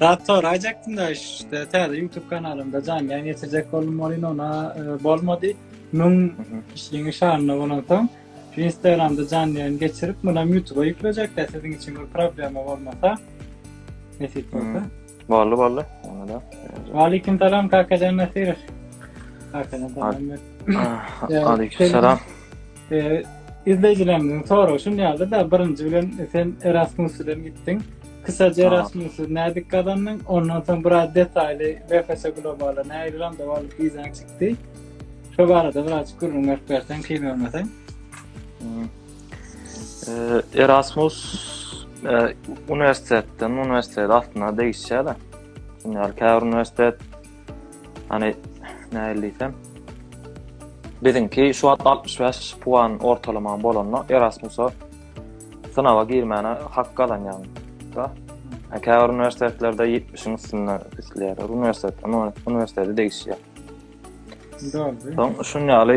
Zat soraýjakdym da işte täze YouTube kanalymda janly ýaýyn geçirjek boldum welin ona e, bolmady. Müň kişiniň şanyna bolan soň şu Instagramda janly ýaýyn geçirip muna YouTube-a ýüklejek de siziň üçin bir problema bolmasa. Nesip bolsa. Boldy boldy. Onda da. Waleýkim salam Kakajan Nasirov. Kakajan salam. Ah, Aleyküm selam. Izleýjilerimiziň soragy şu ýaly-da, birinji bilen sen Erasmus bilen gitdiň. Kysaja Erasmus nädip gazandyň? Ondan soň biraz detaýly BFS Globala nähili randew alyp wizaň çykdy? Şu barada biraz gürrüň berip berseň, kyn görmeseň. Erasmus uniwersitetden uniwersitet aslynda degişýär-de. Ýa-da käbir uniwersitet Hani nähili diýsem, biziňki şu wagt 65 puan ortalamaň bolanda Erasmusa synaga girmäne hak gazanýaň. Da. Käbir uniwersitetlerde 70-iň üstünde isleýär. Uniwersitet, uniwersitete degişýär. Soň şun ýaly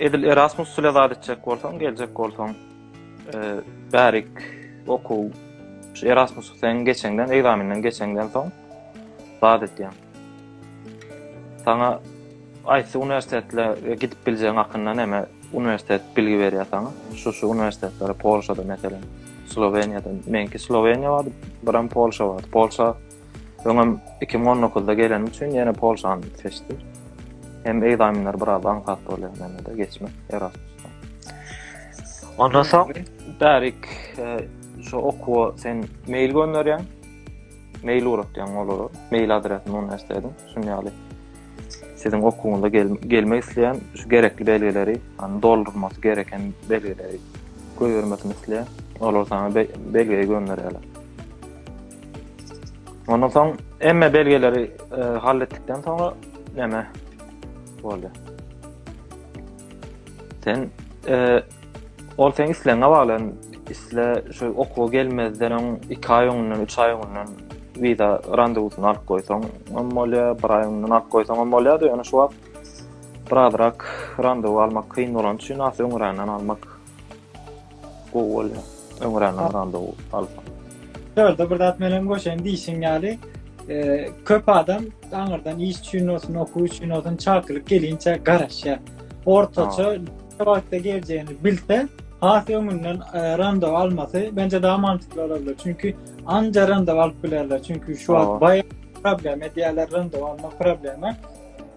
Edil Erasmus ile zat etjek bolsaň, geljek bolsaň, e, bärik okuw şu Erasmus sen geçenden, egzaminden geçenden soň zat etýän. Sana aýtsy uniwersitetle e, gidip biljeň hakynda näme uniwersitet bilgi berýär sana. Şu şu uniwersitetlere Polşada meselem, Sloweniýada, menki Sloweniýa bar, biram Polşa bar. Polşa Öňem iki müň on dokuzda gelenim üçin ýene Polşany seçdim. Hem egzaminler biraz aňsat bolýar mende-de geçmek Erasmusdan. Ondan soň bärik e, şu okuwa sen mail gönderýäň. Mail uratýaň olara. Mail adresini muny näsledim. Şuny ýaly siziň okuwyňyza gel, gelmek isleýän şu gerekli belgileri, ýani doldurmasy gereken belgileri goýbermesini isleýär. Olar sana belgeyi gönderýärler. Ondan soň emme belgeleri e, hal etdikden soňra näme boldy? Sen e, ol sen isleňe bagly. Isle şu okuwa gelmezden öň 2 aý öňünden, 3 aý öňünden wiza randewusyny alyp goýsaň, hem bolýar, 1 aý öňünden alyp goýsaň hem bolýar, ýöne şu wagt birazrak randewu almak kyn bolan üçin asy öňränden almak Gowy bolýar. Öňräkden biraz dow alsa. Şurada bir zat menen goşaýyn diýişiň ýaly, e, köp adam aňyrdan iş üçin olsun, okuw üçin olsun çakylyk gelinçe garaşýar. Ortaça ne wagtda geljegini bilse, has öňünden e, randew almasy bence daha mantıklı olabilir. Çünki anca randew alyp bilerler. Çünki şu Aa. wagt bayağı problem edýärler randew almak problemi.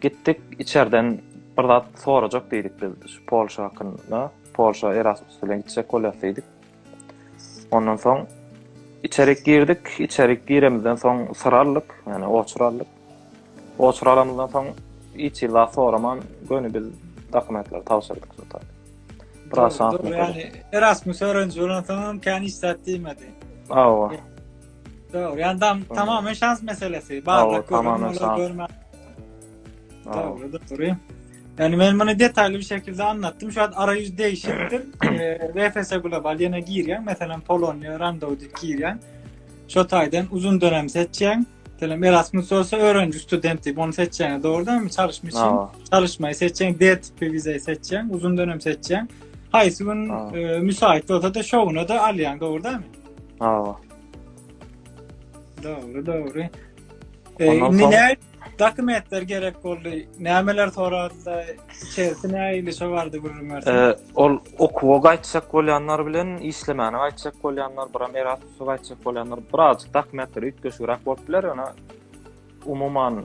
Gitdik, içerden bir zat sorajak diýdik biz şu Polşa hakynda. Polşa Erasmus bilen gitjek bolýas diýdik. Ondan soň içerik girdik, içerik giremizden soň syr aldyk, ýani oçur aldyk. Oçur alamyzdan soň hiç hili zat soraman göni biz dokumentlary tabşyrdyk şu taýda. Biraz şansymyz. Ýani Erasmus öwreniji bolansoň hem kän hiç zat diýmedi. Hawa. Dogry, yani tam, tamamen şans meselesi. Barda tamamen şans. Dogry, dogry. Yani men bunu detaylı bir şekilde anlattım. Şu an arayüz değişiktir. e, VFS Global yine girýän, mesela Polonya, Randodik girýän. Şu taydan uzun dönem seçýän. Selam Erasmus olsa öğrenci student diýip onu seçýän. Dogrudan mı? Çalışmak için. Çalışmayı seçýän, D tipi vizeyi seçýän, uzun dönem seçýän. Haýsy gün e, müsait bolsa da şowuna da alýan, dogry dälmi? Hawa. Dogry, dogry. E, indi ne dokumentler gerek boldy? Nämeler soradylar? Içerisi näili şo bardy gürrüň berse? E, ol okuwa gaýtjak bolýanlar bilen işlemäne gaýtjak bolýanlar, biram Erasmusa gaýtjak bolýanlar, birazjyk dokumentler üýtgeşigräk bolup biler, ýöne umuman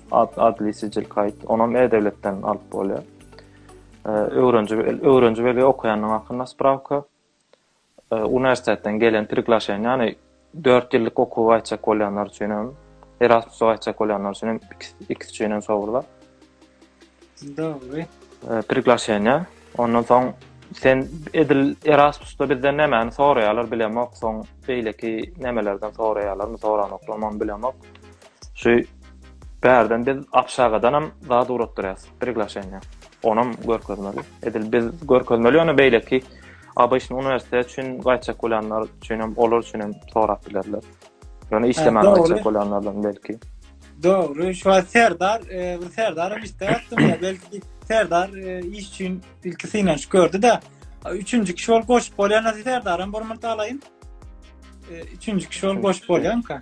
ad, adli sicil kayt onam e devletden alyp bolýar öwrenji öwrenji belge okaýanyň hakynda sprawka uniwersitetden gelen priglaşen ýany 4 ýyllyk okuwa gaýtjak bolýanlar üçin hem Erasmusa gaýtjak bolýanlar üçin hem ikisi üçin hem sowurlar Dogry. Priglaşeniýa. Ondan soň sen edil Erasmusda bizden nämäni soraýarlar bilemok, soň beýleki nämelerden soraýarlarmy, soranoklarmy bilemok. Şu bärden biz Abşagadanam zat ugratdyrýas, priglaşeniýa. Onam görkezmeli. Edil biz görkezmeli, ýöne beýleki ABŞ-ny uniwersitet üçin gaýtjak bolýanlar üçin hem, olar üçin hem sorap bilerler. Ýöne işlemän gaýtjak bolýanlardan belki. Dogry, şu wagt Serdar, e, bir Serdar hem işde ýatdym ya, belki Serdar e, iş üçin ilki synanyş gördi-de, üçünji kişi ol goşup bolýan Serdar hem bir murt alaýyn. E, üçünji kişi ol goşup bolýanka.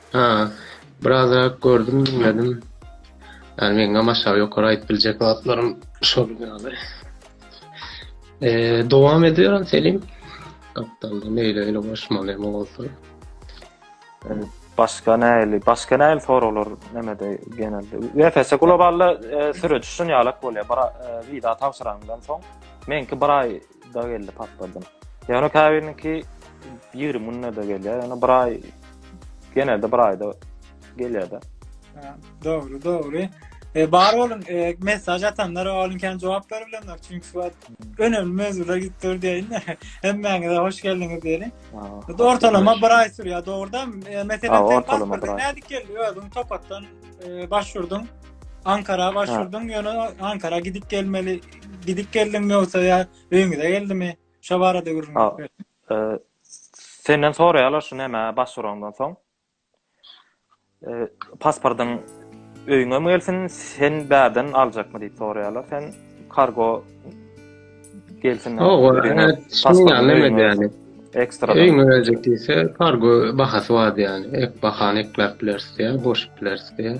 Ha, birazrak gördüm, diňledim. Ýani meňňam aşagy ýokary aýdyp biljek zatlarym şol ýaly. Eee, dowam ediberin Selim. Gapdalda meýle öýle goşmaly hem bolsa. Başga näli, başga näli soraglar nämede genelde. Ýa-da globalda e, süreç şun ýalak bolýar. Bir e, wiza tabşyrandan soň, meňki bir aý da geldi patladym. Ýöne käbiriniňki 20 günde-de gelýär. Ýöne bir aý genelde bir aýda gelýär-de. Dogry, dogry. E, bar bolun, e, mesaj atanlar olun kan jogap berip bilenler. Çünki suat önemli mevzular gidip dur diýin. Hemmäňize hoş geldiňiz diýeli. Ortalama bir ay sürýär, dogruda. E, Meselem, sen pasportyň nädip geldi? Özüň topatdan e, başvurdyň. Ankara başvurdyň, ýöne Ankara gidip gelmeli gidip geldiňmi ýogsa ýa öýüňize geldimi? Şo barada gürrüň berip ber. E, senden soraýarlar şu näme başvuraňdan soň. E, pasportyň öýüňe mi gelsin, sen bärden aljakmy diýip soraýarlar. Sen kargo gelsin. O, pasportyň öýüňe. Ekstra. Öýüňe geljek diýse, kargo bahasy bar ýani. Ek bahany ekläp bilersiň, boşup bilersiň.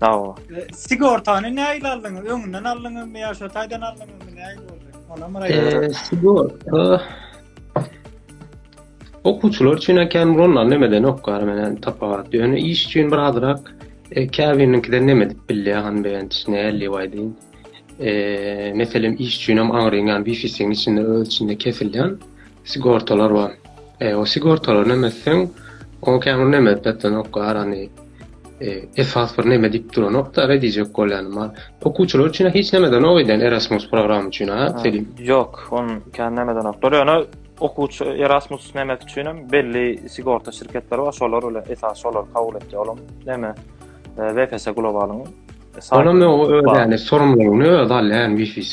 Sawa. E, sigortany näil aldyňyz? Öňünden aldyňyzmy ýa şo taýdan aldyňyzmy? Näil boldy? Ona myra e, sigorta okuwçylar üçin ekän bulan nemeden ok gar menen tapagat. Ýöne iş üçin bir azrak e, käbiriniňkiden neme edip bilýär han beýan näli waýdyn. E, meselem iş üçin hem aňryň ýan wifi-siň içinde öz içinde kesilýän sigortalar bar. E, o sigortalar näme etseň, o kämir näme etmekdenok garany. E, esas bir näme diýip duranok da, re diýjek bolýan bar. Okuwçylar üçin hiç nämeden ok eden Erasmus programy üçin, ha, Selim? Ýok, on kän nämeden ok. Ýöne okuwçy Erasmus nämek üçin hem belli sigorta şirketleri bar, şolar bilen esas şolar kabul etdi. Olam näme? VPS Globalyň. Olam öňe öwrülýän, sorumlulygyny özi alýan VPS.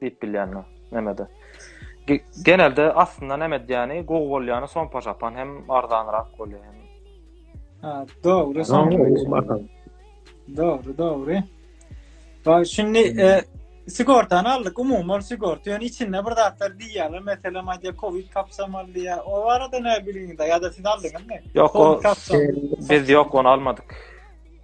Diýip bilýänmi? Nämede? Genelde aslynda näme edýäni, gowy bolýany sompa şapan hem arzanrak bolýar hem. Ha, dogry. Dogry, dogry. Baý, şundi e, sigortany aldyk, umuman sigorta, ýöne içinde bir zatlar diýýärler, meselem aýdýar, covid kapsamaly diýýär. O barada näme bilgiňizde ýa-da siz aldyňyzmy? Ýok, o biz ýok, ony almadyk.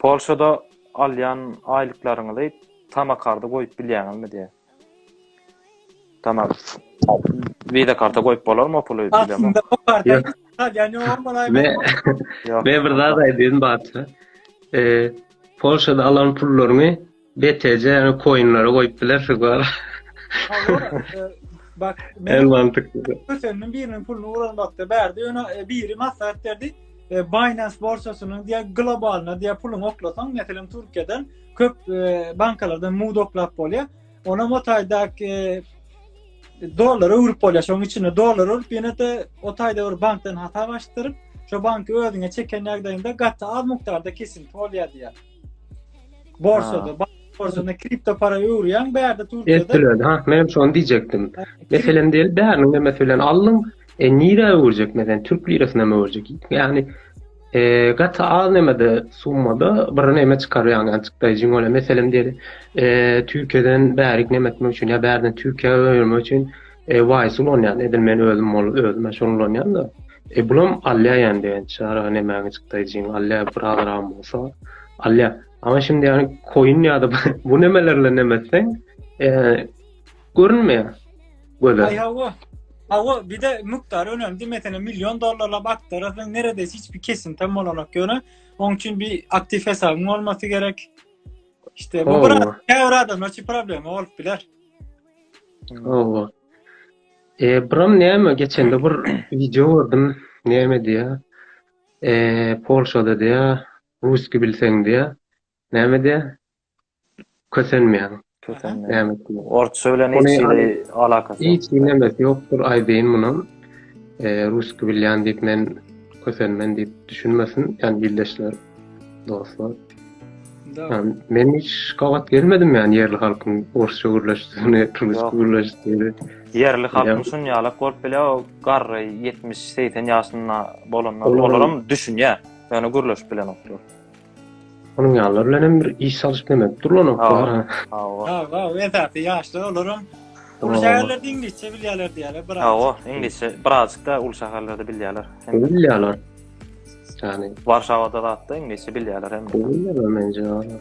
Polşada alýan aýlyklaryňyzy tama karda goýup bilýäňizmi diýýär. Tama wiza karta goýup bolarmy o puly bilemok. Aslynda bu karta hiç alýan ýogam bolaýmasyn. Men bir zat aýdaýyn Batu. Polşada alan pullaryňy BTC ýaly koinleri goýup bilersiň wala. Bak, men mantykly. Kösendim biriniň puluny uranmakda bärde ýöne e, biri maslahat berdi. E, Binance borsasynyň diýä globalyna diýä puluň oklasaň, meselem Türkiýeden köp e, bankalardan mud oklap bolýar. Ona motaýdaky dollar öwrüp bolýar. Şoň içinde dollar öwrüp ýene-de o taýda bir bankdan hasap açdyryp, şo banky özüňe çeken ýagdaýynda gaty az mukdarda kesinti bolýar diýär. Borsada, bank borsasynda kripto para öwürýäň, bärde Türkiýede. Etdiler, ha, men hem şony diýjekdim. Meselem diýeli, bäriniň de meselem aldyň, e, nirä öwürjek, meselem, türk lirasyna mı öwürjek? Ýagny, e, gaty az nämede, summada bir näme çykarýaň, ýagny çykdaýjy ýüň bolan. Meselem diýeli, e, Türkiýeden bärik näme etmek üçin ýa bärden Türkiýä öwürmek üçin, E waýys ulanýan edil men özüm ol özüm-ä şony ulanýan-da. E bulam alýa ýany beýen çaga nemäňi çykdaýjyň alýa bir azragam bolsa alýa. Ama şindi ýany koýun ýa-da bu nemeler bilen neme etseň e görünmeýär. Göze. Aý hawa. Hawa bir-de mukdar önemli meselem million dollarlap akdyrasyň neredesi hiç bir kesinti bolanok ýöne oň üçin bir aktiv hesabyň bolmasy gerek. İşte bu bir her adamda problem bolup biler. Hawa. Eee brom näme geçende bir wideo gördüm näme diýýär. Eee Polşada diýýär russki bilseň diýýär. Näme diýýär. Kösenmeýäň. Kösenmeýäň. Näme diýýär. Orsça bilen hiç hili alakasy ýok. Hiç nemesi ýokdur aýdaýyn muny. Eee russki bilýän diýip men kösenmen diýip düşünmesin ýani ildeşler dostlar. Да. Men hiç gabat gelmedim yani yerli halkyn orsça gürleşdigini, rusça gürleşdigini. Yerli halkyn şun yalak bolup bile o garry 70-80 yaşynda bolanlar olaram düşünýä. Yani gürleşip bilen oklar. Onun yalar bilen hem bir iş salyşyp demek dur lan oklar. Ha, ha, ha, esasy yaşlar olaram. Ulu şäherlerde iňlisçe bilýärler diýýärler, biraz. Hawa, iňlisçe birazjyk da ulu şäherlerde bilýärler. Bilýärler. Yani. Warşawada zatda iňlisçe bilýärler hem. Bilýärler mence hala.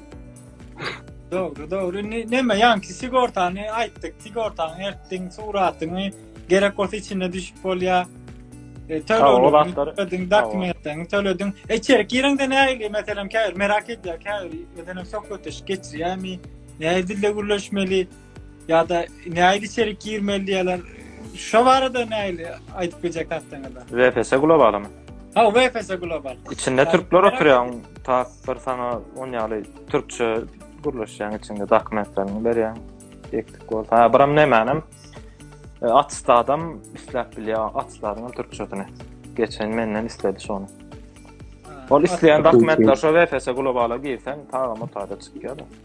Dogry, dogry. Ne, neme ýanki sigortany aýtdyk. Sigortany ertdiň, suratyňy gerek bolsa içinde düşüp bolýar. E, tölegini töledin, dokumentlerini töledin. E, içeri gireňde näli, meselem, käbir merak edýär, käbir, meselem, söhbetdeşlik geçirýärmi? Nädilde gürleşmeli? Ýa-da nähili içerik girmeli diýýärler. Şo barada nähili aýdyp biljek tasdaňyzda? VPS globalymy? Ha, VPS global. Içinde türkler oturýan, tak bir sana on ýaly türkçe gürleşýän içinde dokumentlerini berýän. Ekdik bol. Ha, biram nämänem? E, Atsta adam isläp bilýär, atslaryň türkçesini. Geçen menden isledi şonu. Ol isleýän dokumentler şo VPS globala girsen, tagama taýda çykýar.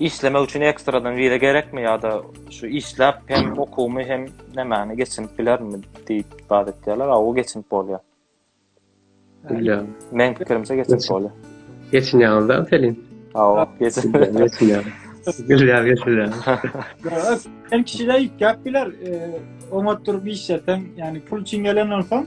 Işlemek üçin ekstradan viza gerekmi ýa-da şu işläp hem okuwymy hem nämäni geçinip bilermi diýip baz etýärler. A, o geçinip bolýar. Bilýän. Men pikirimçe geçinip bolýar. Geçinýäňiz-dä Pelin? Hawa, geçinýär. Gülýär, geçinýär. Hem kişiler ýitgäp biler, e, oňat durup işleseň, ýagny pul üçin gelen bolsaň,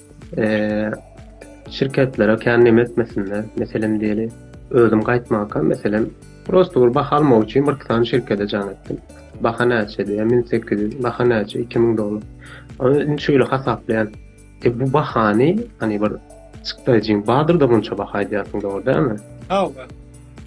şirketlere kän neme etmesinler. Meselem diýeli, özüm gaýtmakam, meselem, prosta bir baha almak üçin bir sany şirkete jaň etdim. Baha näçe diýýär, 1800, baha näçe, 2000 dollar. Ony şeýle hasaplaýan. E bu bahany, hani bir çykdaýjyň bardyr-da munça baha aýdýarsyň, dogry dälmi? Hawa.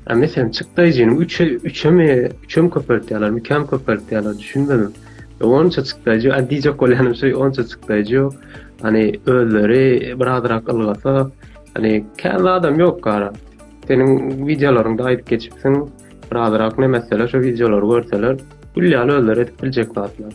A meselen çykdaýjyny üçe üçem üçem köpeltýärler, mikam köpeltýärler, düşünmedim. Onça çykdaýjy, a diýjek bolýanym şu onça çykdaýjy ýok. Hani özleri birazrak ylgasa, hani kän adam ýok gara. Seniň wideolaryňda aýdyp geçipsiň, birazrak näme etseler, şu wideolary görseler, gül ýaly özleri edip biljek zatlar.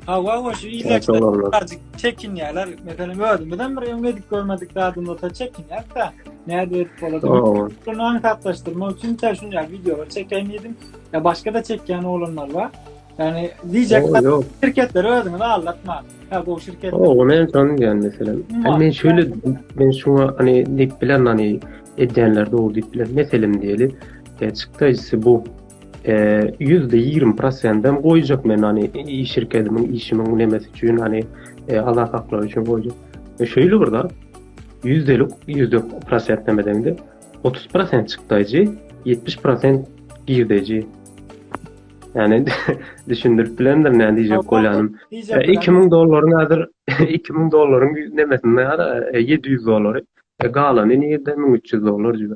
Hawa, wa şu ýerlerde birazjyk çekinýärler. Meselem, özümiz hem bir öňe edip görmedik zadymyzda çekinýäs-de, nädip edip bolady? Şunu aňsatlaşdyrmak üçin sen şuny ýa wideolar çekeýin diýdim, ýa başga-da çekýän oglanlar bar. Ýani diýjek şirketleri özüňiz aldatmaň. Ha, bu şirket. O, ony hem şony diýen meselem. Hem men şöyle men şuňa hani diýip bilen hani edýänler dogry diýip bilen. Meselem diýeli, e, çykdaýjysy bu Ýüzde ýigrimi prosentim goýjak men hani iş şirketimiň işimiň nemesi üçin hani e, Allah haklary üçin goýjak. E, şeýle bir zat ýüzdelik ýüzde prosent neme deňde otuz prosent çykdaýjy ýetmiş prosent girdeýji. Yani düşündirip bilendir ne diýjek bolýanym. E, iki müň dollaryň häzir iki müň dollaryň nemesinde ýa-da e, ýedi ýüz dollary. E, galany nirde müň üç ýüz dollar jübi.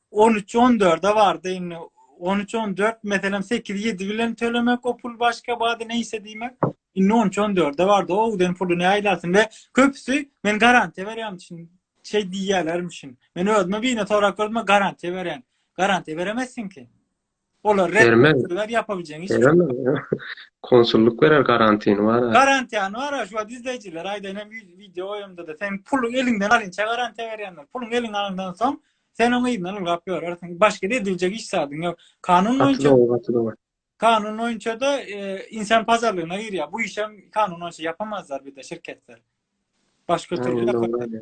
On üç on dörde bardy indi. On üç on dört meselem sekiz ýedi bilen tölemek o pul başga bady neýse diýmek. Indi on üç on dörde bardy. O uden puly ne aýlarsyn we köpüsi men garantiýa berýän üçin şeý diýýärlermişin. Men özüme bine sorak gördüm-ä garantiýa berýän. Garantiýa beremezsiň ki. Olar reddetdiler, ýapabiljek iş ýok. Konsullyk berer garantini bar. Garantini bar, şu wagt izleýjiler aýdaýyn hem wideo goýamda-da, sen puluň eliňden alyňça garantiýa berýänler. Puluň eliňden alyndan soň, sen oň yzyndan ylgap ýörersiň. Başga-da ediljek iş zadyň ýok. Kanun boýunça Gaty dogry, gaty dogry. Kanun boýunça-da insan pazarlygyna girýär. Bu işem kanun boýunça ýapamazlar bir-de şirketler. Başga türlü ýaparlar.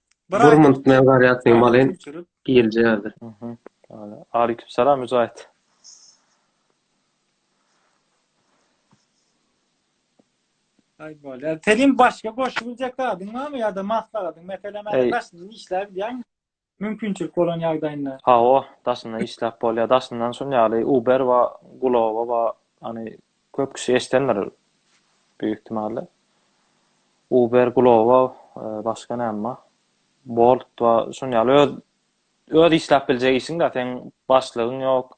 Bir aýda Burmund men garýatyn malyn göçürip, gelje ýaly. Mhm. Ala. Aleýkum salam Müjahit. aý bolýar. Senin başga goşup biljek zadyň barmy ýa-da maslahatyň? Meselem, Eý. hä, daşyndan işläp bilýäňmi? Mümkinçilik bolan ýagdaýynda. Hawa, daşyndan işläp bolýar. Daşyndan şuny ýaly Uber we Glovo we hany Köp kişi eşidendir büyük ihtimalle. Uber, Glovo, başga näme? Bolt we şun ýaly öz öz işläp biljek işiň-de, seň başlygyň ýok.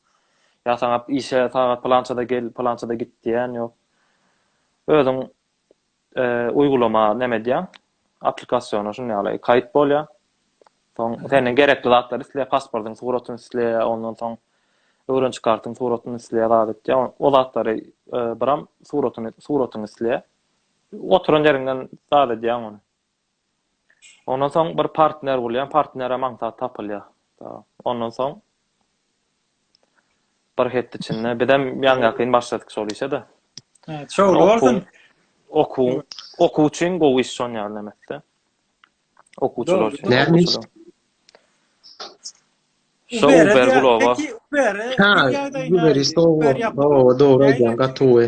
Ýa saňa işe sagat pylançada gel, pylançada git diýen ýok. Özüň uýgulama näme edýäň? Applikasiýona şuny ýaly kaýyt bolýar. Soň senden gerekli zatlar isleýär, pasportyň suratyny isleýär, ondan soň öwrençi kartyň suratyny isleýär, zat etýär. O zatlary e, biram suratyny suratyny isleýär. Oturan ýeriňden zat edýäň ony. Ondan soň bir partner bulýan, partnere maňsat tapylýar. Ondan soň bir hepde içinde bizem ýaňyýakyn başladyk şol işe-de. Şowly bolsun. Okuw, okuw üçin gowy iş şon ýaly nämetde. Okuwçylar üçin. Näme iş? Şu Uber globa. Ha, Uber iş gowy. Gowy, dogry aýdýaň, gaty gowy.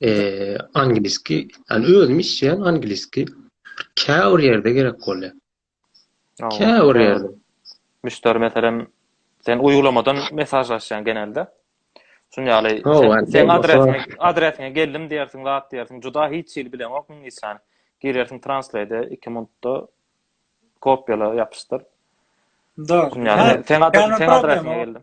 Eee, angliski, ýani özüm işleýän angliski käbir ýerde gerek bolýar. Käbir ýerde. Müşderi meselem, sen uýgulamadan mesajlaşýaň genelde. Şun ýaly, sen adresiňe, adresiňe geldim diýersiň, zat diýersiň, juda hiç hili bileňok iňlisçäni. Girersiň translate 2 minutda kopiýala ýapyşdyr. Dogry. Sen adresiňe geldim.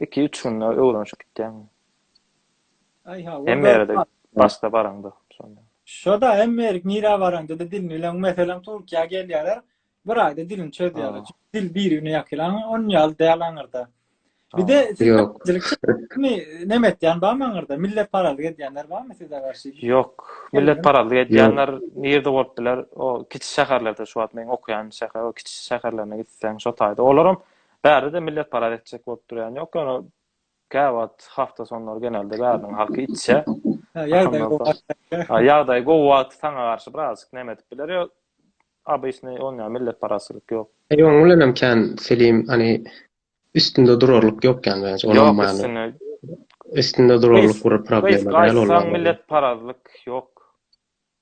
Iki üç günde öwrenşip gitýäň. Aý ha o da. Başda baraňda şonda. Şoda emmerik nirä baraňda-da dilini bileň meselem Türkiýä gelýärler bir aýda dilini çözýärler. Dil birigine ýakylan on ýaly däl aňyrda. Bir de näme etýän bar aňyrda millet parazlyk edýänler barmy size garşy? Ýok millet parazlyk edýänler nirde bolup biler o kiçi şäherlerde şu wagt meň okaýan şäher o kiçi şäherlerine gitseň şo taýda olaram Bärde-de millet paraz etjek bolup durýan ýok, ýöne käwagt hafta sonlary genelde bäriniň halky içýä. Ýagdaý gowy wagty saňa garşy birazjyk näme edip biler ýa obyçny onýa millet parazçylyk ýok. Ýa oň bilenem kän Selim hany üstünde durarlyk ýok ýany bence onuň many. Ýok üstünde. Üstünde durarlyk bir problema däl ol. Gaýtsaň millet parazlyk ýok.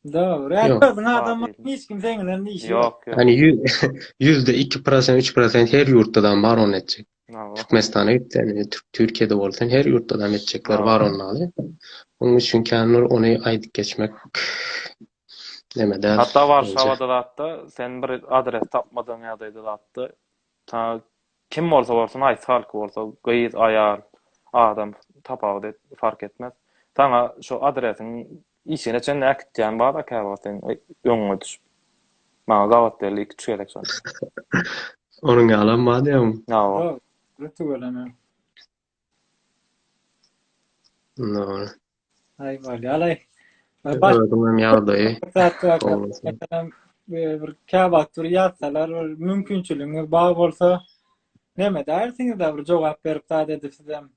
Dogry. Ýa Ýok. özüň adam Ýa bolsaň, hiç kim seň bilen işi ýok. Ýok, ýok. Ýani ýü- ýüzde iki prosent, üç prosent her ýurtda dam bar ony etjek. Hawa. Türkmenistana git sen, e, Türk Türkiýede bol sen, her ýurtda dam etjekler Hawa. bar ony aly. Onuň üçin kän bir ony aýdyp geçmek neme däl. Hatda Warşawada zatda sen bir adres tapmadygyň ýagdaýda zatda ta Kim bolsa bolsun, aýshalk bolsa, gyz, aýal, adam, tapawut et, fark etmez. Saňa şo adresiň işigine çenli äkitýän bar-a käwagt seň öňüňe düşüp. Maňa gabat berli iki-üç gezek şony. Onuň ýalam bar diýýäň. Ýok, tüweleme. Nol. Aý bolýa alaý. Özüňem ýagdaýy. Bir käwagt bir ýatsalar, bir mümkinçiligiňiz bar bolsa, näme daýersiňiz da bir jogap berip zat edip sizem.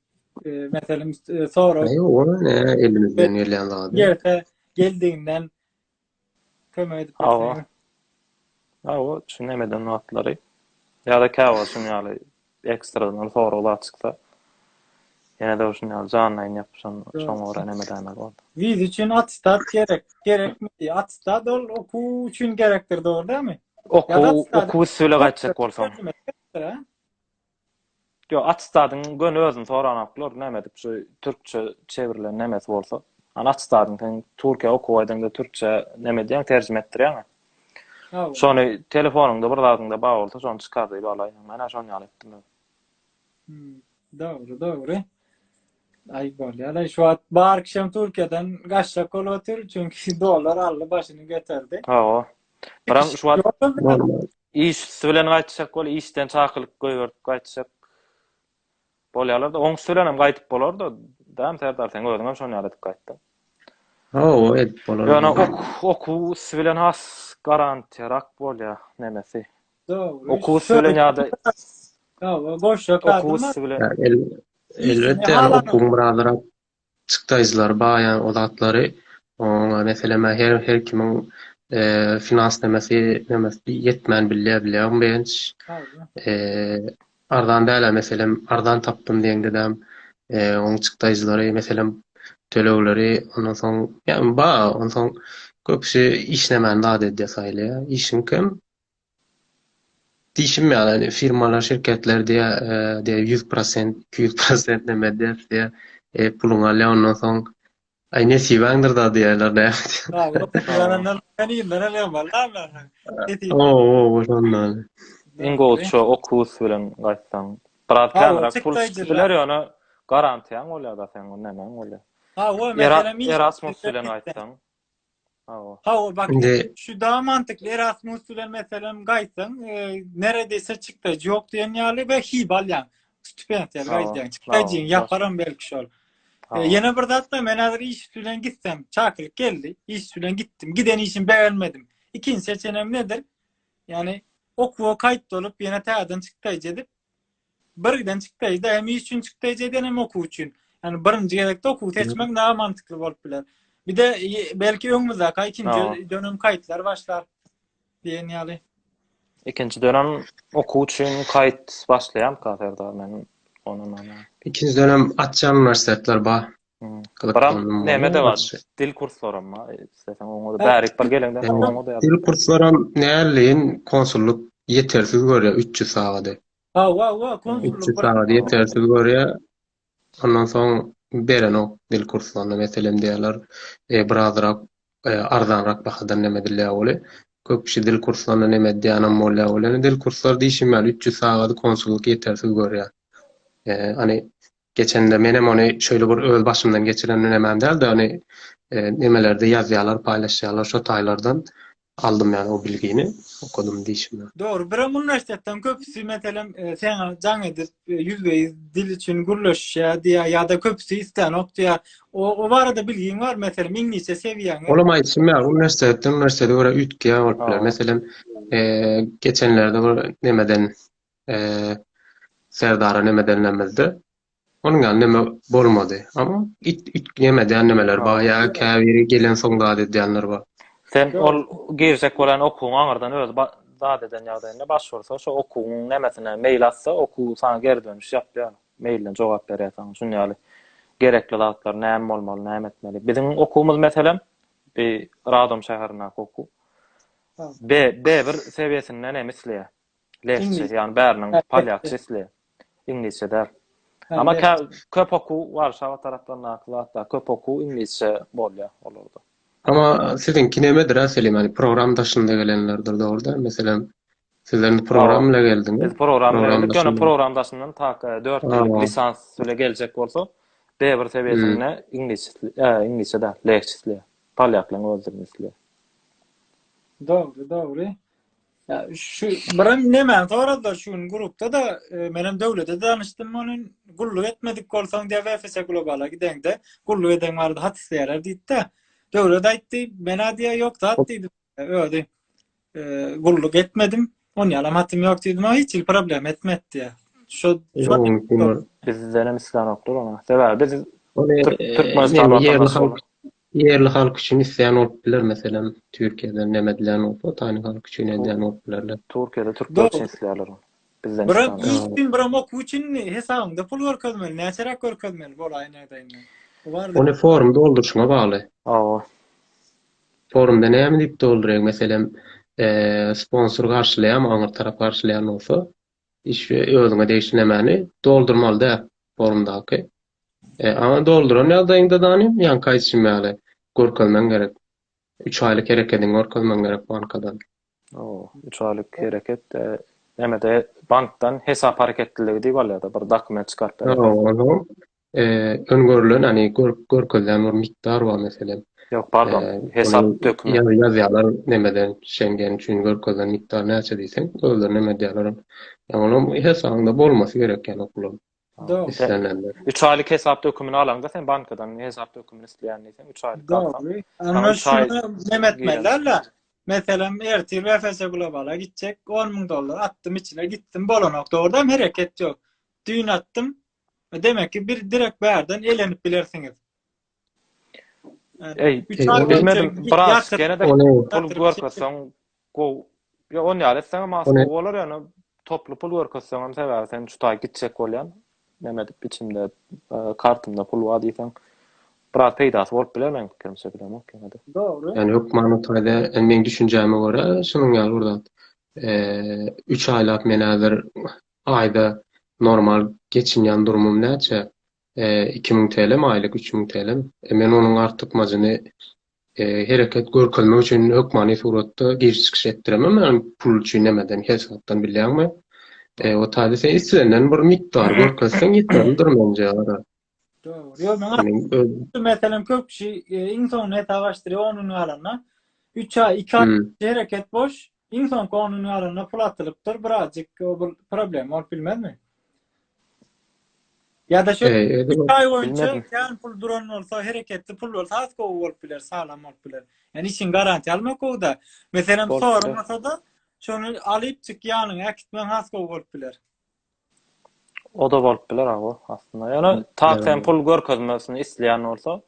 Meselem sorag. Aý ol ne elimizden gelýän zady. Ýerse geldiginden Kömek edip bilseňiz. Awa, şu nemeden wagtlary. Ýa-da käwagt şuň ýaly ekstradan sorag zat çyksa. Ýene-de şuň ýaly janlaýyn ýapyşan, şoňa görä neme edäýmeli boldy. Wiza üçin attestat gerek, gerekmi? Attestat ol okuw üçin gerekdir, dogry dälmi? Okuw, okuw üsti bilen gaýtjak bolsaň. Ýok, atestadyň göni özüni soranoklar, näme edip şu türkçe çewrilen nemesi bolsa. Hany atestadyň sen Türkiýä okuwa gideňde türkçe näme edýäň, terjime etdirýäňä. Hawa. Şony telefonyňda bir zadyňda bar bolsa şony çykar diýip alaýyň. Men-ä şon ýaly etdim özüm. Hümm. Dogry, dogry. Aý bolýar-aý şu wagt bar kişem Türkiýeden gaçjak bolup otyr, çünki dollar aldy başyny göterdi. Hawa. Biram şu wagt Ýok-da, Bolmaz. Iş üsti bilen gaýtjak bol, işden çakylyk goýberdip gaýtjak bolýarlar-da. Oňüsti bilen hem gaýdyp bolar-da, dämi Serdar, seň özüň hem şon ýaly edip gaýtdyň. Hawa, edip bolar. Ýöne okuw üsti bilen has garantiýarak bolýar nemesi. Dogry. Okuw üsti bilen ýa-da. Hawa, goşjak zat. Okuw üsti bilen. Elbetde, okuwyň biraz Çykdaýjylary baýaň o zatlary oňa meseleme her her kimiň finans nemesi nemesi ýetmän bilýär bilýär begenç arzan dälä meselem arzan tapdym diýeňdedem oň çykdaýjylary meselem tölegleri ondan soň ýa bar onsoň köpüsi işlemän zat edýär saýlaýar işiň kem Diýşim ýaly, indi firmalar, şirketler diýýär, diýýär, ýüz prosent, iki ýüz prosent näme ders diýýär, eý, puluňy alýar, ondan soň, Aý, nesibäňdir-dä diýýärler, näme diýýär. Hawa, şondan. Iň gowy şu oktobus bilen gaýtsaň. Biraz känräk pul çykyp biler, ýöne garantiýaň bolýar-da seň, nämäň bolýar. Erasmus bilen gaýtsaň. Hawa, bak, şu da mantykly Erasmus bilen meselem gaýtsaň, neredese çykdaýjy ýok diýen ýaly we hib alýaň. Stipendiýa gaýdýaň. Çykdaýjyňy ýaparam belki şol. Ýene bir zat-da, men häzir iş bilen gitsem, çakylyk geldi, iş bilen gitdim. Giden işimi begenmedim. Ikinji seçenim nedir? Ýagny okuwa kaýt bolup, ýene täzeden çykdaýjy edip, Birgiden çykdaýda hem iş üçin çykdaýda eden hem okuw üçin. Yani birinji gezekde okuw seçmek hmm. daha mantıklı bolup biler. Bir de belki öňümizdäki aý ikinji no. dönem kaýtlar başlar diýen ýaly. Ikinji dönem okuw üçin kaýt başlaýarmyka Serdar men ondan Ikinji dönem açýan uniwersitetler bar. Gyzyklandy muňa. Näme-de bar. Dil kurslaram bar. Isleseň oňa-da bärik bir geleňde oňa-da ýaz. Dil kurslaram näleýin konsullyk ýetersiz görýär üç ýüz sagady. Hawa-wa konsullyk bir. Üç ýüz sagady ýetersiz görýär. Ondan soň berenok dil kurslaryny. Meselem diýýärler bir azrak arzanrak bahadan näme edilýär weli. Köp kişi dil kurslaryna näme edýänem bolýar weli. Dil kurslary diýşim ýaly üç ýüz sagady konsullyk ýetersiz görýär. Hany Geçende menem ony şeýle bir öz başymdan geçiren nemem däldi, ony nemelerde ýazýalar, paýlaşýalar şo taýlardan aldym ýaly o bilgini, okadym diýşim ýaly. Dogry, birem uniwersitetden köpüsi meselem seňa jaň edip, ýüzbe-ýüz dil üçin gürleşýä diýýä ýa-da köpüsi islänok diýýä. O barada bilgiň barmy, meselem iňlisçe sewiýäňmi? Olam aýdyşym ýaly, uniwersitetden uniwersitete görä üýtgeýän bolup biler. Meselem, geçenlerde bir nemeden, Serdara neme denlemizde onuň ýaly neme bolmady. Ama it it neme edýän nemeler bar ýa käbiri gelen soň zat edýänler bar. Sen ol girjek bolan okuwyň aňyrdan özi ba zat eden ýagdaýynda baş ursa şo okuwyň nemesine mail atsa okuw saňa geri dönüş ýapýar. Mailden jogap berýär saňa şuny ýaly gerekli zatlar näme bolmaly näme etmeli. Biziň okuwymyz meselem bi Radom şäherindäki okuw. Be B bir sewiýesinden hem isleýär. Lehçe, ýagny bäriniň polýak sesli, iňlisçe däl. Amma kä köp okuw Warşawa taraplaryndaky zatlar, köp okuw iňlisçe bolýar olarda. Amma siziňki nemedir-ä Selim, ýagny program daşynda gelenlerdir dogruda, meselem, siz indi program bilen geldiňiz. Biz program bilen geldik, ýöne program daşyndan tak dört ýyllyk lisans bilen geljek bolsa, B1 sebiýesinde iňlisçe, iňlisçe däl, lehçe isleýär. Polýaklaryň özi dilini isleýär. Dogry, dogry. Ya şu birim nemen soradylar şu gün grupda da e, menem döwlete danışdym onun gulluk etmedik bolsaň diye VFS globala gidende gulluk eden vardı hat isteýärler diýdi de döwlet aýtdy men adiýa ýok zat diýdim ödi e, gulluk etmedim on ýalam hatym ýok diýdim ama hiç il problem etmedi diýä şu Ýogunlyk bolmaz. Bizden hem islenokdyr ona. Sebäbi biz Ony Türk- Türkmenistan ýerli watandaşy halk Ýerli halk üçin isleýän bolup biler, meselem, Türkiýeden näme edilýän bolsa, Otanyň halky üçin edýän bolup bilerler. Türkiýede türkler üçin isleýärler ony. Bizden isleýän ýok. Biram iş üçin, biram okuw üçin hesabyňda pul görkezmeli. Näçeräk görkezmeli bolaýyn aýdaýynda. Bu barada. Ony forum dolduryşyňa bagly. Hawa. Forumda näme diýip dolduraýyň, meselem, sponsor garşylaýarmy, aňyr tarap garşylaýan bolsa, iş we özüňe degişli nämäni doldurmaly däl forumdaky. E, aňa dolduran ýagdaýyňda zanim, ýaňky aýdyşym ýaly, görkezmeň gerek. Üç aýlyk herekediňi görkezmeň gerek bankadan. Oo, üç aýlyk hereket, e, näme-de bankdan hesap hareketliligi diýip alýar-da, bir dokument çykaryp berýär. Ýok, onuň, e, öňgörülen, ýagny görk, görkezilen bir mikdar bar meselem. Ýok, pardon, E, hesap ony dökümi. ýa, ýazýarlar nämeden, Şengen üçin görkezilen mikdar näçe diýseň, özleri näme edýärler, ýagny onuň hesabyňda bolmasy gerek ýagny o puluň. Islenenler. Üç aýlyk hesap dökümini alaňda sen bankadan hesap dökümini isleýän diýseň, üç aýlyk alsaň. Onda şuny näme etmeli Meselem, ertir BFS Globala gitjek, 10 müň dollar atdym içine, gitdim, bolanok, dogrudanam hereket ýok. Düýn atdym, demek ki, bir direkt bärden elenip bilersiňiz. Eý, bilmedim, biraz gene-de pul görkezseň gowy. Ýa on ýaly etseňem has gowy bolar ýöne toply pul görkezseňem sebäbi sen şu taý gitjek bolýan. Näme edip içimde kartymda pul bar diýseň biraz peýdasy bolup biler meň pikirimçe bilemok ýöne-de. Dogry. Ýani hökmany taýda meň düşünjäme görä şunuň ýaly bir zat. Üç aýlap men häzir aýda normal geçinýän durumym näçe? iki müň TL-mi aýlyk, üç müň TL-mi? E, men onuň artykmajyny e, hereket görkezmek üçin hökmany suratda giriş-çykyş etdiremem, ýagny pul üçin nämeden, hesapdan bilýäňmi? E, o taýda sen islenilen bir mikdar görkezseň ýeterlidir menje. Dogry. Ýok, maňa Meniň öz- şu meselem köp kişi e, iň soňunda hesap açdyryp, onuň galanda 3 aý, 2 aý Hmm. hereket boş, Iň soňky onuň ýanynda pul atylypdyr, birazjyk bu problema bolup bilmezmi? Ýa-da şu iki aý boýunça kän pul duran bolsa, hereketli pul bolsa has gowy bolup biler, saglam bolup biler. Ýani işiň garantiýa almak gowy-da. Meselem, sorulmasa-da, şony alyp çyk ýanyňa äkitmegiň has gowy bolup biler. Oda bolup biler aga aslynda. Ýöne tak sen pul görkezmesini isleýän bolsa,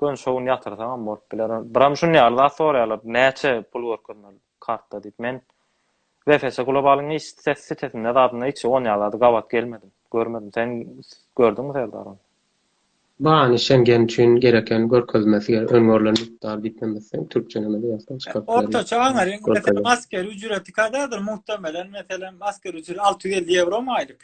gön şo gün ýatyrsaňam bolup biler. Biram şuny ýaly zat soraýarlar. Näçe pul görkezmeli kartda diýip. Men VFC Globalyň hiç sitesinde zadynda hiç on ýaly zady gabat gelmedim. Görmedim. Sen gördüňmi Serdar? Bahany Şengen üçin gereken görkezmesi ger öň görlen mukdar diýipnemezseň türkçelemede ýazsaň çykaryp biler. Ortaça aňaryň meselem asker ücreti kadadyr muhtemelen meselem asker ücreti alty ýüz elli ýewromy aýlyk.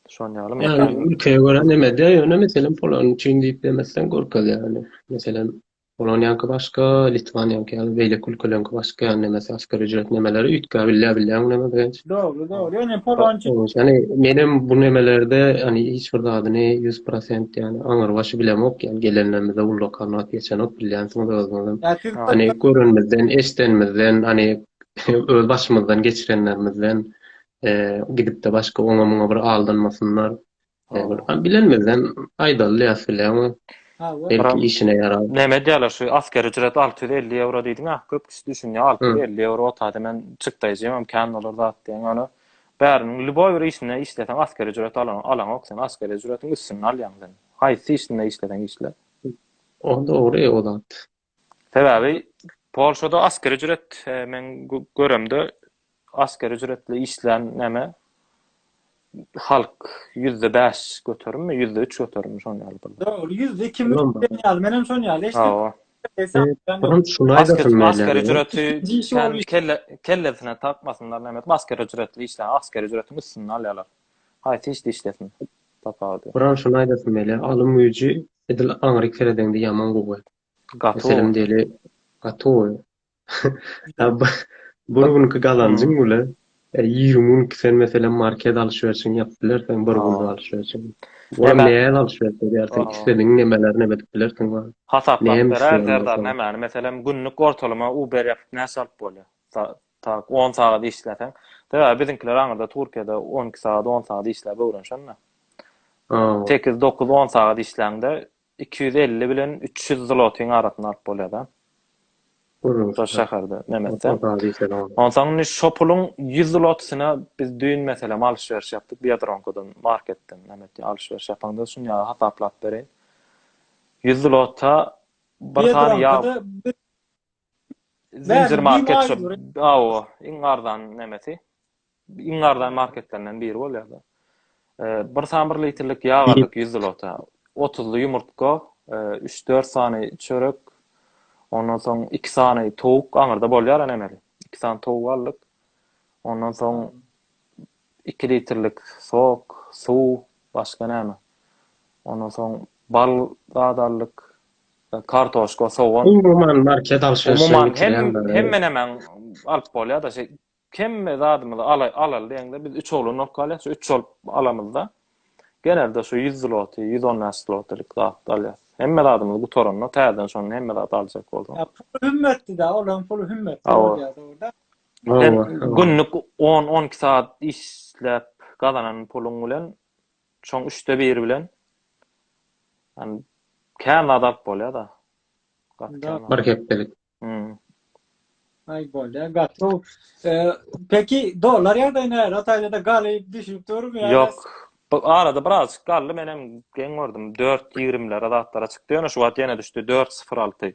Şon ýalymy? Ýagny ülkeye görä nemede ýöne meselem polany üçin diýipnemezseň görkezýär ýöne meselem Onuň ýaňky başga, Litwanyň ýaňky ýaly, beýleki ülkeleriňki başga ýaly nemesi asgari ücret nemeleri üýtgä bilýär bilýäňmi neme Begenç? Dogry dogry ýöne polonçy. Ýöne menem bu nemelerde ýöne hiç bir zadyny ýüz prosent ýöne aňyr başy bilemok ýöne gelenlerimize ullakan wagt geçenok bilýänsiňiz özüňizem ýöne görenimizden eşdenimizden ýöne öz başymyzdan geçirenlerimizden gidipde başga oňa muňa bir aldanmasynlar Ol bilenmizden aýdaly ýa sileňi. Belki işine ýarar. Näme diýýärler şu asker ücret alty ýüz elli ýewro diýdiňä köp kişi düşünýär alty ýüz elli ýewro otady men çykdaýjymam kän bolar zat diýen ýöne bäriniň lýuboý bir işinde işleseň asker ücret alan alaňok sen asker ücretiň üstünde alýaň sen haýsy işinde işleseň işle. O dogry o zat. Sebäbi Polşada askeri ücret men göremde askeri ücretli işlän näme halk ýüzde bäş göterimmi ýüzde üç göterimmi şonuň ýaly bolýar. Ýok ol ýüzde ikimi diýen ýaly menem şonuň ýaly eşitdim. Askeri ücreti kellesine takmasynlar näme edip askeri ücretli işlän askeri ücretiň üstünde alýarlar haýsy işde işlesin tapawudy. Buran şuny aýdasym gelýär alym güýji Edil aňryk seredeňde ýaman gowy. Gaty gowy. Meselem diýeli gaty gowy. Bir günki gazanjyň bile ýigrimi günki sen meselem market alşwerişiňi ýapyp bilersiň bir günlük alşwerişiňi. Olam nähili alşweriş edýärsiň isledigiň nemeleri nebet edip bilersiň wah. Hasaplap beräý Serdar nämäni meselem günlük ortalama uber ýapyp näçe alyp bolýar Tak, on sagat işläseň. Sebäbi biziňkiler aňyrda Turkiýada on iki sagat, on sagat işläp öwrenişendir. Hawa. Sekiz, dokuz, on sagat işläňde iki ýüz elli bilen üç ýüz zlotyň arasyny alyp bolýar-da. Görüň. Şo şäherde, Nemesde. Onsoň indi şo puluň ýüz zlotysyna biz düýn, meselem, alyş-beriş ýapdyk Biadronkodan, marketden, näme diýýär, alyş-beriş ýapanda şuny ýaly hasaplap bereýin. Ýüz zlota bir sany ýag. Zincir market şu. Awa, iň arzan nämesi? Iň arzan marketlerinden biri bolýar da. Bir sany bir litrlik ýag aldyk 100 zlota. 30 ýumurtga, 3-4 sany çörek, ondan soň 2 sany towuk aňyrda bolýar nämeli. 2 sany towuk aldyk. Ondan soň iki litrlik sok, suw, başga näme? Ondan soň bal zat aldyk, kartoşka, sogan. Umuman market alşyryşyny bitirýänler. Hemmenemäň alyp bolýar-da, şeý hemme zadymyzy alaly diýeňde biz üç oglan bolup galýar, şu üç bolup alamyzda genelde şu ýüz zloty, ýüz on bäş zlotylyk zat alýar. Hemme zadymyzy gutaranda täzeden şondan hemme zat aljak bolsaň. Puly hümmetdi-de, olaryň puly hümmetdi bolýar-da. Sen günlük 10-12 saat işläp gazanan puluň bilen şoň üçde biri bilen yani kän zat alyp bolýar da. Bir hepdelik. Hmm. Ay bolýar. Gatro. Peki dollar ýagdaýy näre? Taýda galy düşüp durmy ýa? Ýok. Bu arada biraz galdy menem geň gördüm. 4.20-lere zatlara çykdy. Ýöne şu wagt ýene düşdi 4.06.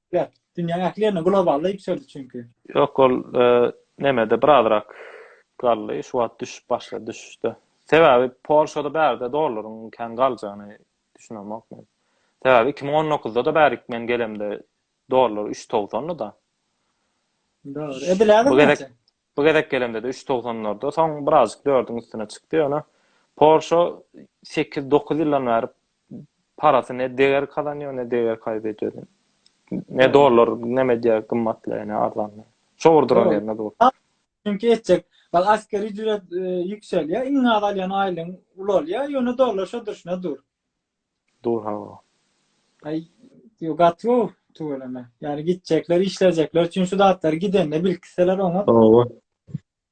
Gep, dünýäň ähli ýerinde globalda ýüpsedi çünki. Ýok ol nemede birazrak galdy, şu wagt düşüp başlady düşüşde. Sebäbi Polşada bärde dollaryň kän galjagyny düşünemok men. Sebäbi iki müň on dokuzdada bärik men gelemde dollar üç togsandy-da. Dogry. Ediläge näçe? Bu gezek gelemde-de üç togsanlarda, soň birazjyk dördüň üstüne çykdy, ýöne Porsche sekiz-dokuz ýyldan bäri parasy ne deger kazanýar, ne deger kaýbedýär. Ne dollar neme diýýär, gymmatlaýar, ne arzanlaýar. Şo bir duran ýerinde dur. Çünki etjek, ol asgari ücret e, ýükselýär, iň az alýan aýlygyň ulalýar, ýöne dollar şo durşuna dur. Dur hawa. Aý, ýok gaty gowy tüweleme. Ýani gitjekler, işlejekler üçin şu zatlary gidende bilkitseler oňat. Hawa.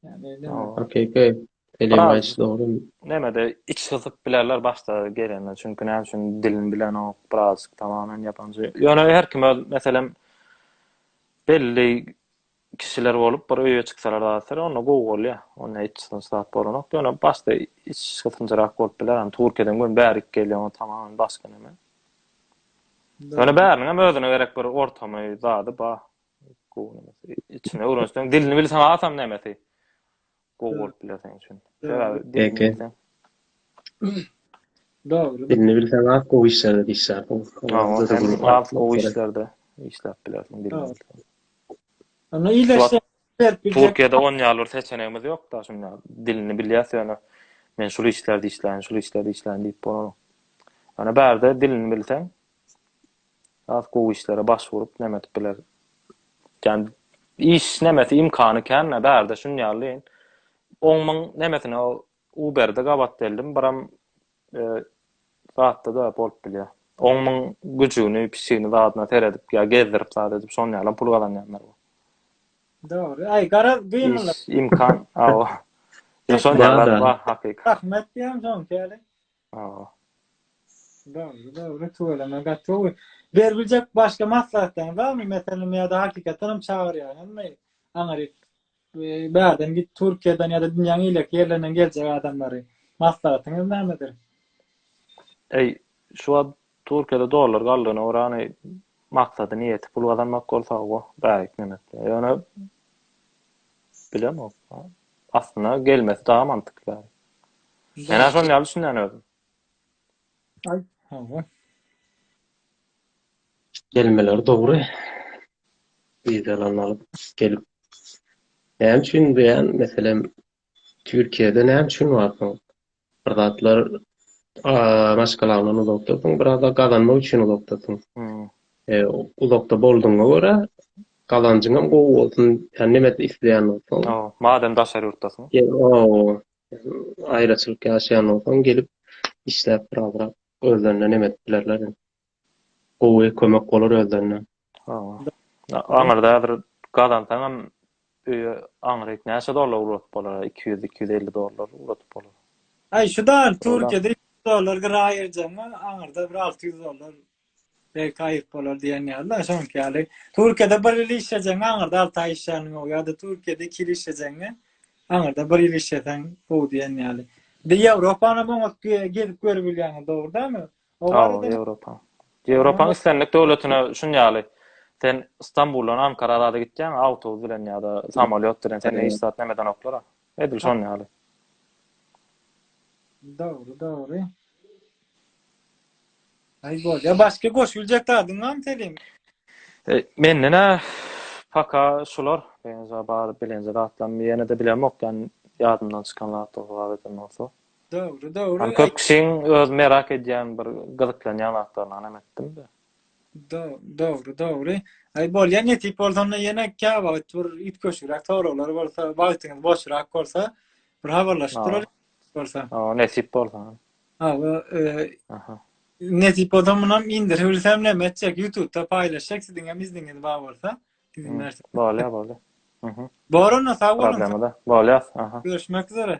Ýani näme. Okey, okey. Telegram aýtýşy dogry. Nämede iç gysyp bilerler başda gelende. Çünki näme üçin dilini bilenok, biraz tamamyn ýapanja. Ýöne her kim öz meselem belli kişiler bolup bir öýe çyksalar zatlar onda gowy bolýar. Onda hiç sıkıntı zat bolanok. Ýöne başda iç gysynjyrak bolup biler. Hani Türkiýeden göni bärik gelýän tamam başga näme. Ýöne bäriniň hem özüne gerek bir ortamy zady bar. Gowy näme. Içine öwrenseň dilini bilseň asam nämesi. gowy bolup biler seň üçin. Sebäbi dilini bilseň. Dogry. Dilini bilseň az gowy işlerde işlärsiň. Az gowy işlerde işläp bilersiň dilini bilseň. Ana iýleşse berip biljek. Türkiýede on ýaly bir seçenegimiz ýok-da, şunda dilini bilýäs ýöne men şul işlerde işläýin, şul işlerde işläýin diýip bolanok. Ana bärde dilini bilseň Has gowy işlere baş urup näme edip biler. Jan iş nämesi imkany känme bärde şun ýaly. On müň nämesine Uber-de gabat geldim biram zatda da bolup bilýär. On müň güjügini pişigini zadyna seredip ýa gezdirip zat edip şon ýalam pul gazanýanlar bar. Dogry. Aý garaz gymylyk. Iş imkan awa. Ýa şon ýaly zat bar hakyky. Rahmet diýem şonki ýaly. Hawa. Dogry, dogry, tüweleme gaty gowy. Berbiljek başga maslahatlaryňyz barmy? Meselem, ýa-da hakykatdan hem çagyrýaňyzmy? Aňryk bärden git, Türkiýeden ýa-da dünýäň eýleki ýerlerinden geljek adamlary. Maslahatyňyz nämedir? Eý, şu wagt Türkiýede dollar galdygyna görä ony maksady niýeti pul gazanmak bolsa goh bäri gitmemek bilen. Ýöne bilemok. Aslynda gelmesi dagy mantykly. Menä şon ýaly düşünýän özüm. Aý, hawa. Gelmeleri dogry. Wizalaryny alyp gelip. Näme üçin diýýän meselem Türkiýede näme üçin barsyň? Bir zatlar maşgalaňdan uzakdasyň, bir zatlar gazanmak üçin uzakdasyň. Uzakda boldugyňa görä, gazanjyň hem gowy bolsun, ýa neme isleýän bolsaň. Madem daşary ýurtdasyň. Aýraçylyk ýaşaýan bolsaň, gelip işläp biraz-ra özlerine neme edip bilerler. Gowy kömek bolar özlerine. Aňyrda häzir gazansaňam öýe aňryk näçe dollar ugradyp bolar iki ýüz iki ýüz elli dollar ugradyp bolar. Aý şu dan Türkiýede iki ýüz dollar gyra aýyrjagyňa aňyrda bir alty ýüz dollar belki aýyryp bolar diýen ýaly da şoňky ýaly Türkiýede bir ýyl işlejegiňe aňyrda alty aý işlänligiň gowy ýa-da Türkiýede iki ýyl işlejegiňe aňyrda bir ýyl işleseň gowy diýen ýaly. Ýewropanam oňat gezip görüp bilýäňiz dogry dämi? Hawa, Ýewropa. Ýewropaň islendik döwletine şun ýaly. Sen Stambuldan Ankara arada gitýäň, awtobus bilen ýa-da samolýot bilen seni hiç zat näme edenoklar. Edil şon ýaly. Dogry, dogry. Aý bolýa, başga goşup biljek zadyň barmy Selim? Menden-ä paka şular, beýnja bar bilenje zatlarym ýene-de bilemok, ýadymdan çykan zatlar bar eden bolsa. Dogry, dogry. Hany köp kişiň öz merak edýän bir gyzyklanýan zatlaryny hanam etdim-de. Dogry, dogry. Aý bolýa nesip bolsa onda ýene käwagt bir üýtgeşigräk soraglar bolsa, wagtyňyz boşrak bolsa bir habarlaşyp duralyň bolsa. Hawa, nesip bolsa. Hawa, e, nesip bolsa munam indirip bilsem näme etjek, YouTube-da paýlaşjak siziň hem izniňiz bar bolsa. Izin berse. Bolýa, bolýa. Bor onda sag boluň. Bolýa, aha. Görüşmek üzere.